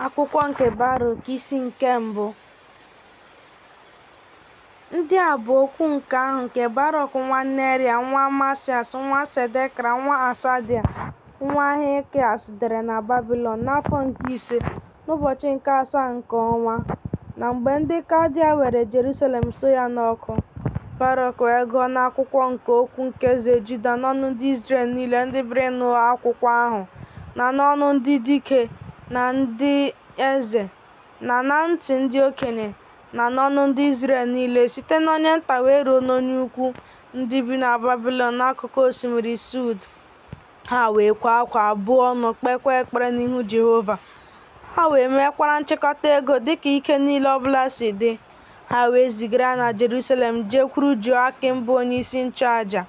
Akwụkwọ nke Barọk isi nke mbụ. Ndị a bụ okwu nke ahụ nke Barọk nwa Neria nwa Masias nwa Sedekra nwa Asadia nwa Hilkias dere na Babilọn n'afọ nke ise n'ụbọchị nke asaa nke ọnwa na mgbe ndị Kaldia were Jerusalem suo ya n'ọkụ. Barọk wee gụọ n'akwụkwọ nke okwu nke eze Juda n'ọnụ ndị Izrel niile ndị bịara ịnụ akwụkwọ ahụ na n'ọnụ ndị dike na ndị eze, na na ntị ndị okenye, na n'ọnụ ndị Izrel niile, site n'onye nta wee ruo n'onye ukwu, ndị bi na Babịlọn n'akụkụ osimiri Sud. Ha wee kwaa akwa, buo ọnụ, kpeekwa ekpere n'ihu Jehova. Ha wee meekwara nchịkọta ego dị ka ike niile ọ bụla si dị. Ha wee zigara ya na Jerusalem jekwuru Joakim bụ onyeisi nchụaja,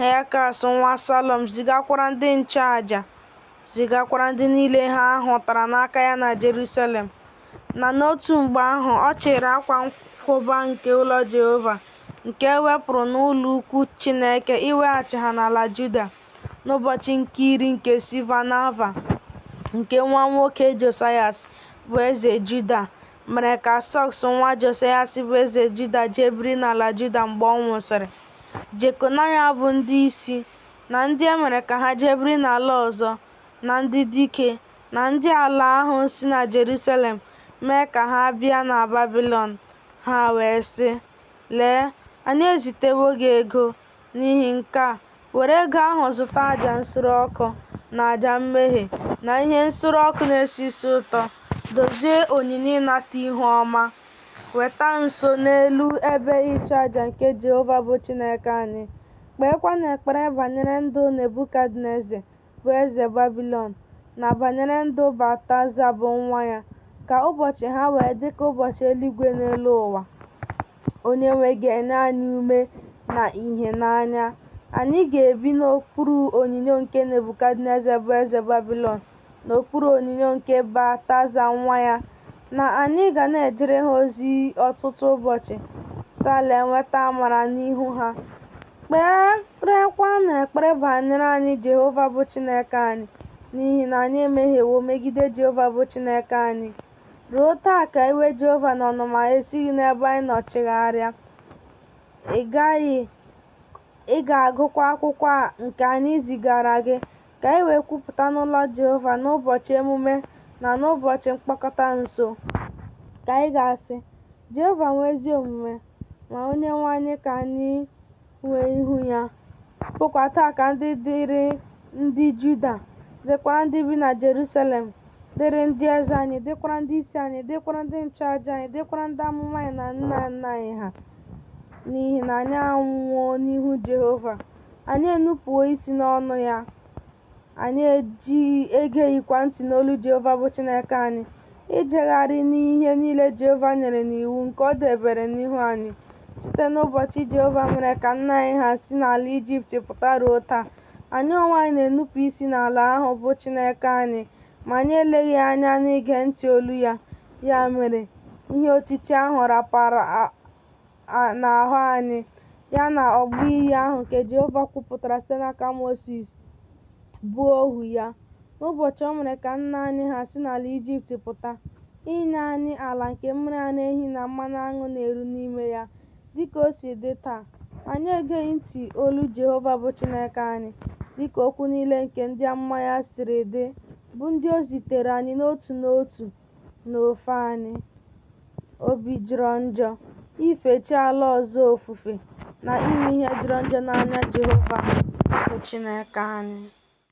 Helkas nwa Salọm zigakwara ndị nchụaja, zigakwara ndị niile ha hụtara n'aka ya na Jerusalem, na n'otu mgbe ahụ ọ chịịrị akwa nkwụba nke ụlọ Jehova nke e wepụrụ n'ụlọ ukwu Chineke iweghachi ha n'ala Juda n'ụbọchị nke iri nke Siva Nava nke nwa nwoke Josayas bụ eze Juda mere ka Sọks nwa Josayas bụ eze Juda jee biri n'ala Juda mgbe ọ nwụsịrị. Jekonaya bụ ndị isi, na ndị e mere ka ha jee biri n'ala ọzọ, na ndị dike, na ndị ala ahụ si na Jerusalem mee ka ha bịa na Babịlọn, ha wee sị, Lee, anyị ezitewo gị ego n'ihi nke a, were ego ahụ zụta aja nsure ọkụ na aja mmehie na ihe nsure ọkụ na-esi isi ụtọ, dozie onyinye ịnata ihu ọma. Weta nso n'elu ebe ịchụaja nke Jehova bụ Chineke anyị, kpeekwanụ ekpere banyere ndụ Nebukadneza, bụ eze Babịlọn, na banyere ndụ Baltaza, bụ nwa ya, ka ụbọchị ha wee dị ka ụbọchị eluigwe n'elu ụwa. Onyenwe ga-enye anyị ume na ìhè n'anya. Anyị ga-ebi n'okpuru onyinyo nke Nebukadneza, bụ eze Babịlọn. n'okpuru onyinyo nke Baltaza nwa ya, na anyị ga na-ejere ha ozi ọtụtụ ụbọchị. Sale nweta amara n'ihu ha. Kperekwanụ ekpere banyere anyị Jehova bụ Chineke anyị, n'ihi na anyị emehiewo megide Jehova bụ Chineke anyị. Ruo taa ka iwe Jehova na ọnụma ya esighị n'ebe anyị nọ chigharịa. Ị gaghị, ị ga-agụkwa akwụkwọ a nke anyị zigaara gị. Ka anyị wee kwupụta n'ụlọ Jehova n'ụbọchị emume na n'ụbọchị mkpọkọta nso. Ka anyị ga-asị, Jehova nwe ezi omume, ma Onyenwe anyị ka anyị nwe ihu ya. Ọ bụkwa taa ka ndị dịrị ndị Juda, dịkwara ndị bi na Jerusalem, dịrị ndị eze anyị, dịkwara ndị isi anyị, dịkwara ndị nchụaja anyị, dịkwara ndị amụma anyị na nna nna anyị ha, n'ihi na anyị anwụwo n'ihu Jehova. anyị enupụwo isi n'ọnụ ya, anyị ejighị egeghịkwa ntị n'olu Jehova bụ Chineke anyị, ijegharị n'ihe niile Jehova nyere n'iwu nke ọ debere n'ihu anyị site n'ụbọchị Jehova mere ka nna anyị ha si n'ala Ijipt pụta ruo taa. Anyị onwe anyị na-enupụ isi n'ala ahụ bụ Chineke anyị, ma anyị eleghị anya n'ige ntị olu ya. Ya mere, ihe otiti ahụ rapara n'ahụ anyị, ya na ọgbụ iyi ahụ nke Jehova kwupụtara site n'aka Mosis, bụ ohu ya, n'ụbọchị o mere ka nna anyị ha si n'ala Ijipt pụta, inye anyị ala nke mmiri ara ehi na mmanụ aṅụ na-eru n'ime ya, dị ka o si dị taa. Anyị egeghị ntị olu Jehova bụ Chineke anyị, dị ka okwu niile nke ndị amụma ya siri dị, bụ ndị o ziteere anyị n'otu n'otu. n'ofe anyị. Obi jọrọ njọ ife chi ala ọzọ ofufe na ime ihe jọrọ njọ n'anya Jehova bụ Chineke anyị.